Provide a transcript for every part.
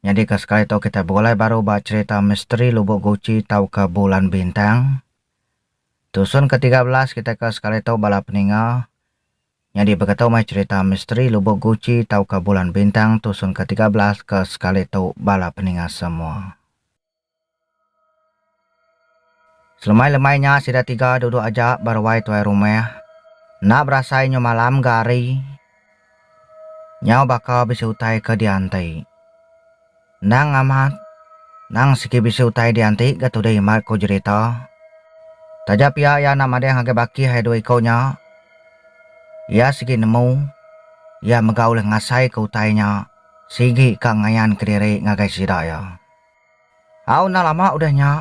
Nyadi ke sekali tu kitai begulai baru ba cherita misteri Lubok Guci tauka Bulan Bintang. Tusun ke tiga belas kitai ke sekali tu bala peninga. Nyadi beketu meh cherita misteri Lubok Guci tauka Bulan Bintang tusun ke tiga belas ke sekali tu bala peninga semua. Selemai-lemai nya sida tiga duduk aja ba ruai tuai rumah. Enda berasai nyu malam ga hari. Nyau baka bisi utai ke dianti. Endang amat, endang sigi bisi utai dianti ga tudi mar ku jerita. Taja pia iya enda madah ngagai baki hai dua iku nya. Iya sigi nemu, iya mega ulih ngasaika utai nya sigi ka ngayanka diri ngagai sida iya. Au enda lama udah nya,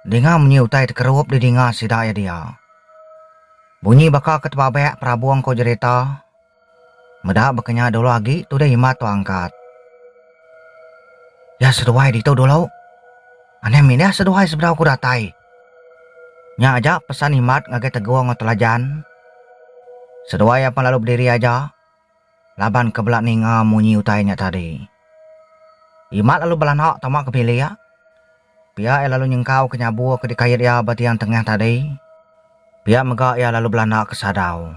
dinga munyi utai tekerup di dinga sida iya dia. Bunyi baka ke tebabek perabung ko jerita, meda baka nya dulu agi tudah imat tua angkat. Iya seduai ditu dulu, anem indah seduai sebedau ku datai. Nya aja pesan imat ngagai Teguh enggau Telajan. Seduai apan lalu bediri aja. laban ke bela ninga munyi utai nya tadi. Imat lalu belanak tama ke bilik. Pia iya lalu nyengkauka nyabur ke dikait iya ba tiang tengah tadi. Pia mega iya lalu belanda ke sadau.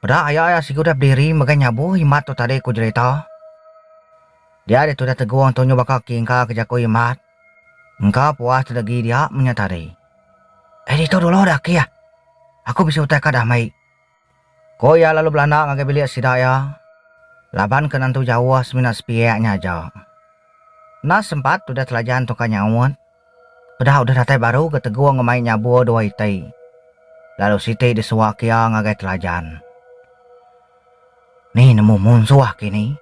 Peda aya iya sigi udah bediri megai nyabur Imat tu tadi ku Jelita. Dia ditu udah tegong tu nyu baka kingka ke jaku Imat. Engka puas deda agi dia menya tadi. Eh ditu dulu dah kih. Aku bisi utai ka damai. Ko iya lalu belanda ngagai bilik sida iya laban ke nentu jauh semina sepiak nya aja. Enda sempat udah telajan tungka nyaut, peda udah datai baru ke tegung ke mai nyabur dua iti lalu siti disuak iya ngagai telajan. Ni nemu munsuh ke ini.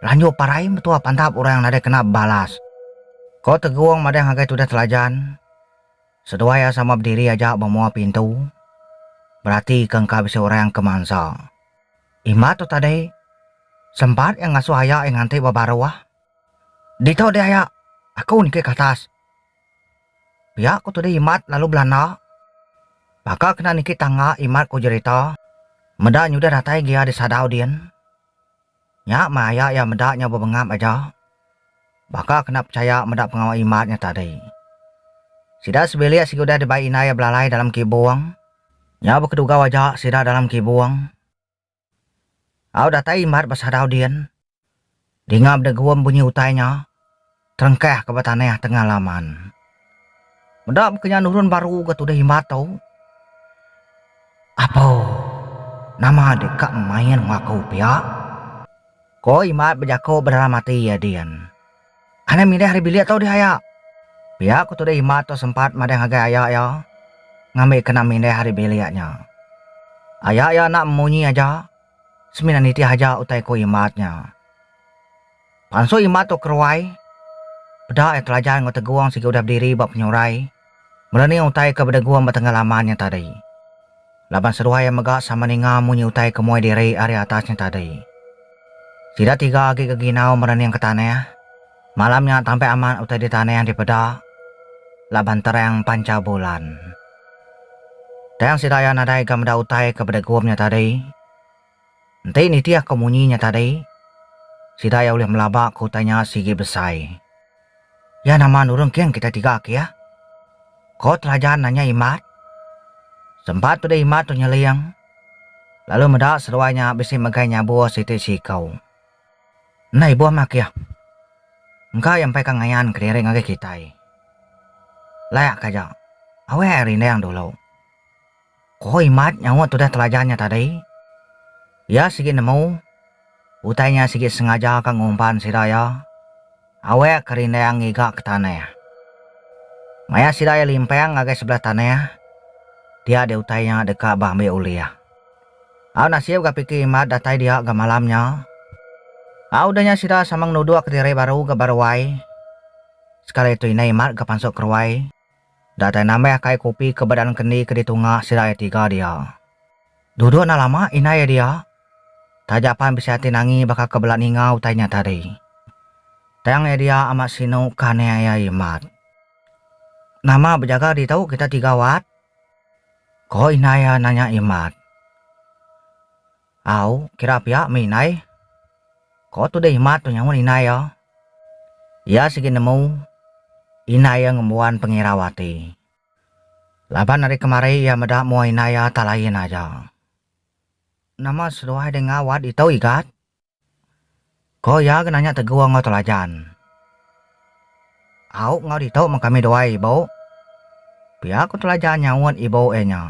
Lanjur parai metua pandap orang nadai kena bebalas. Ko tegung madah ngagai tudah telajan, Seduai iya sama bediri aja ba mua pintu, beratika engka bisi orang ke mansa. Imbah tu tadi, sempat iya ngasuh aya iya nganti ba baruh. Ditu dih aya, aku niki ke atas. Pia ku Tudi Imat lalu belanda. Baka kena niki tangga Imat ku jerita, meda nyudah datai gia disadau din. Nya maya iya meda nya bebengap aja, baka kena pechaya meda pengawa imat nya tadi. Sida sebilik sigi udah dibai indai iya belalai dalam kibung. Nya bekedugau aja sida dalam kibung. Au datai imat besadau din, dinga bedegum bunyi utai nya. Terengkah ke ba tanah tengah laman. Meda baka nya nurun baru ke tudah imba tu. Apo. Nama deka main enggau aku pia? Ko Imat bejako bedalam ati iya din. Anang mindah ari bilik tu dih aya. Pia ko tudah Imat tu sempat madah ngagai aya iya ngambi kena mindah ari bilik nya. Aya iya enda memunyi aja semina nitih aja utai ko Imat nya. Pansut imbak tu keruai, peda iya telajan enggau Tegong sigi udah bediri ba penyurai mula ni utai ke bedegum ba tengah laman nya tadi. Laban seduai iya mega sama ninga munyi utai ke muai diri ari atas nya tadi. Sida tiga agi ke ginau merening ke tanah. Malam nya tampai amat utai di tanah dipeda laban terang pancha bulan. Tang sida iya nadai ga meda utai ke bedegum nya tadi, Enti nitih ko munyi nya tadi, sida iya ulih melaba ko utai nya sigi besai. Iya nama nurung kin kitai tiga ke iya? ko Telajan nanya Imat. Sempat peda Imat tu nyeling, lalu meda seduai nya bisi megai nyabuh siti siku. Enda ibuh mah ke iya. Engka iya empai ka ngayan kediri ngagai kitai. Layak ka aja. Awai ai rindang dulu. Ku Imat nyaut tudah telajar nya tadi. Iya sigi nemu, utai nya sigi sengaja ka ngumpan sida iya, awek ke rindang ngiga ke tanah. Maya sida iya limpang ngagai sebelah tanah, dia di utai nya deka beambi ulih. Au nasib ga piki Imat datai dia ga malam nya. Au udah nya sida sama ngenuduk diri baru ga ba ruai. Sekali tu inai Imat ga pansut ke ruai. Datai nambih akai kopi ke badan kendi ke ditunga sida iya tiga dia. Duduk enda lama indai iya dia. Taja pan bisi ati nangi baka ke bela ninga utai nya tadi. Tang iya dia amat sinu ke anih iya Imat. Nama bejaga ditu kita tiga Wat? ko indai iya nanya Imat. Au, kira pia meh indai. Ko Tudai Himat tu nyaut indai iya. Iya sigi nemu indai iya ngembuan pengirau ati. Laban ari kemari iya meda mua indai iya tak lain aja. Nama seduai dei ngau Wat Itou Igat? Ko iya ke nanya tegur enggau telajan. Au enggau ditu meh kami duai ibu. Pia ku telajan nyaut ibu iya nya.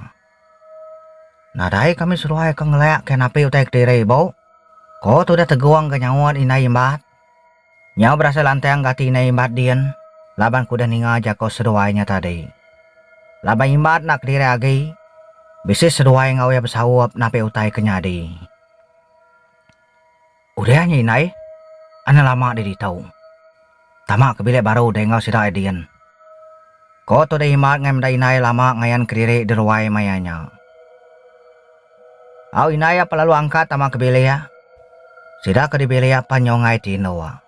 Nadai kami seduai ke ngelak ke napi utai kediri ibu, ko tudah tegung ke nyaut indai Imbat. Nyau berasai lantang ke ati indai Imbat din laban kudah ninga jaku seduai nya tadi. Laban Imbat enda kediri agi, bisi seduai enggau iya besaup napi utai ke nyadi. Udah nya indai, enda lama deh ditu. Tama ke bilik baru deh enggau sida Adien. Ko tu deh Imat ngai meda indai lama ngayan kediri diruai maya nya. Au indai iya pelalu angkat tama ke bilik. Sida ke di bilik pan nyau ngai ti endok.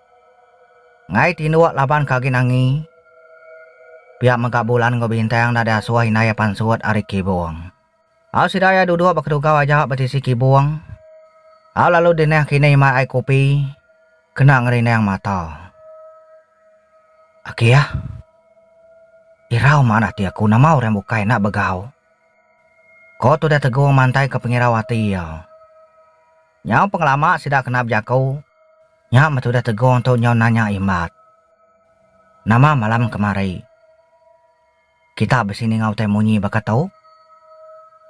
Ngai ti endok laban ke agi nangi. Pia mega Bulan enggau Bintang enda deh asuh indai pansut ari kibung. Au sida iya duduk ba kedugau aja ba tisi kibung. Au lalu dineh kinih mai ai kopi kena ngerinang mata. Aki ah. Irau maan ati aku nama orang bukai enda begau. Ko Tudah Tegong mantaika pengirau ati iya. Nyau pengelama sida kena bejaku nya meh Tudah Tegong tu nyau nanya Imbat. Nama malam kemari. Kita bisi ninga utai munyi baka tu?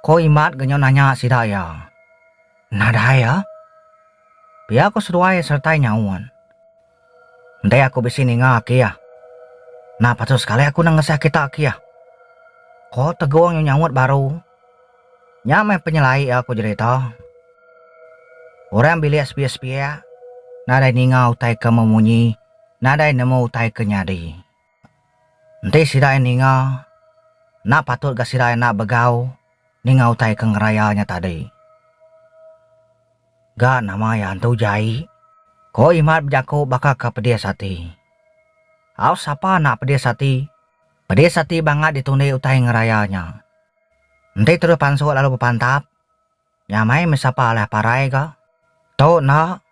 Ko Imat genyo nanya sida iya. Nadai iya. Pia ko seduai sertai nyaut. Enti aku bisi ninga aki iya. Nah patut sekali aku nengesah kita aki iya. Ko Tegong nyu nyaut baru. Nya meh penyelai iya ko jerita. Orang bilik sepiak-sepiak nadai ninga utai ke memunyi nadai nemu utai ke nyadi. Enti sida iya ninga, enda patut ga sida iya enda begau ninga utai ke ngeraya nya tadi. Ga nama iya antu jai? Ko Imat bejaku baka ke pedis ati. Au sapa enda pedis ati? Pedis ati bangat ditundi utai ngeraya nya. Enti terus pansuk lalu bepantap. Nya meh mesapa alah parai ga. Tu enda.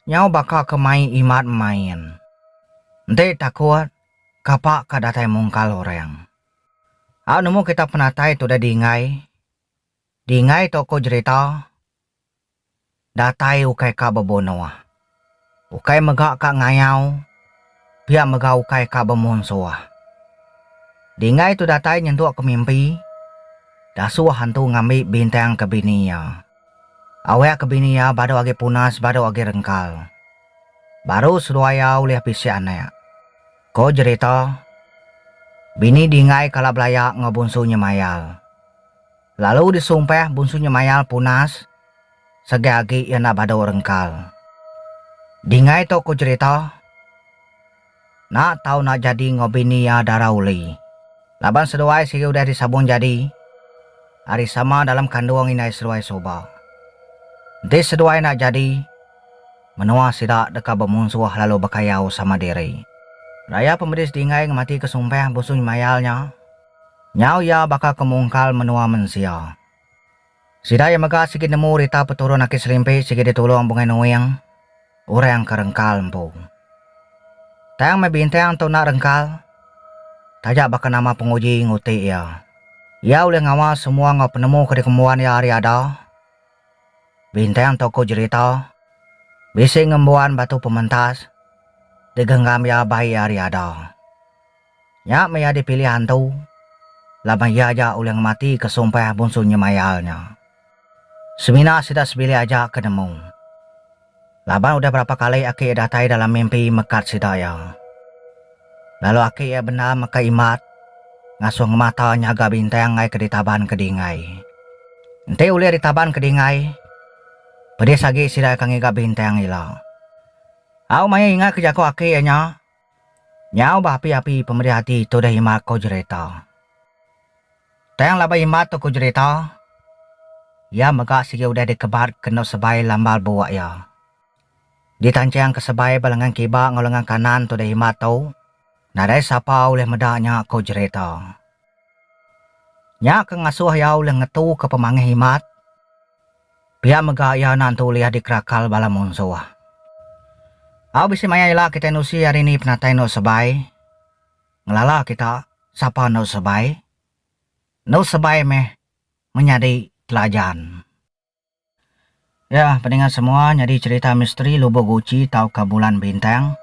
Nyau baka ke mai imat main. Enti takut, kapa ka datai mungkal orang. Au nemu kita penatai tu udah dinggai. Dinggai tu ku jerita datai ukai ka bebunuh. Ukai mega ka ngayau, pia mega ukai ka bemunsuh. Dingai tu datai nyentuk ke mimpi, Dasuh antu ngambi bintang ke bini iya. Awak ke bini iya badu agi punas badu agi rengkal. Baru seduai iya ulih bisi anak. Ko jerita, bini Dingai kala belaya enggau bunsu Nyemayal. Lalu disumpah Bunsu Nyemayal punas segai agi iya enda badu rengkal. Dingai tu ku jerita, enda tau enda jadi enggau bini iya Dara Uli. Laban seduai sigi udah disabung jadi ari sama dalam kandung indai seduai suba. Enti seduai enda jadi, menua sida deka bemunsuh lalu bekayau sama diri. Raya pemedis Dingai ngematika sumpah Bunsu Nyemayal nya. Nyau iya baka ke mungkal menua mensia. Sida iya mega sigi nemu rita peturun Aki Selimpi sigi ditulung Bungai Nuing, orang ke rengkal empu. Tang meh bintang tu enda rengkal, taja baka nama penguji nguti iya. Iya ulih ngawa semua enggau penemu ke dikembuan iya ari ada. Bintang tu ku jerita, bisi ngembuan batu pementas digenggam iya bai iya ari ada. Nya meh iya dipilih antu, laban iya aja ulih ngematika sumpah bunsu nyemayal nya. Semina sida sebilik aja ke nemu. Laban udah berapa kali aki iya datai dalam mimpi mekat sida iya. Lalu aki iya bendar meka Imat ngasuh ngemata nyaga bintang ai ke ditaban ke Dingai. Enti ulih ditaban ke Dingai, pedis agi sida iya ke ngiga bintang ila. Au maya ingatka jaku aki iya nya, Nyau bah api-api pemedih ati tudah imat ko jerita. Tang laban imat tu ko jerita, iya mega sigi udah dikebat kenu sebai lambal buok iya. Di tanchang ke sebai ba lengan kiba enggau lengan kanan tudah imat tu, nadai sapa ulih meda nya ko jerita. Nya ke ngasoh iya ulih ngetu ke pemangih imat. Pia mega iya enda nentu ulih dikerakal bala munsuh. Au bisi maya ila kitai nusi hari ni penatai endur sebai, ngelala kita sapa endur sebai, endur sebai meh menyadi telajan. Ya, pedinga semua nyadi cherita misteri lubuh guci tauka bulan bintang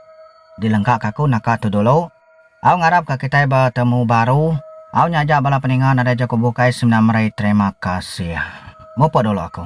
dilengkaka aku naka tu dulu. Au ngarapka kitai betemu baru. Au nyaja bala peninga nadai jaku bukai semina meri terima kasih. Mupuk dulu aku.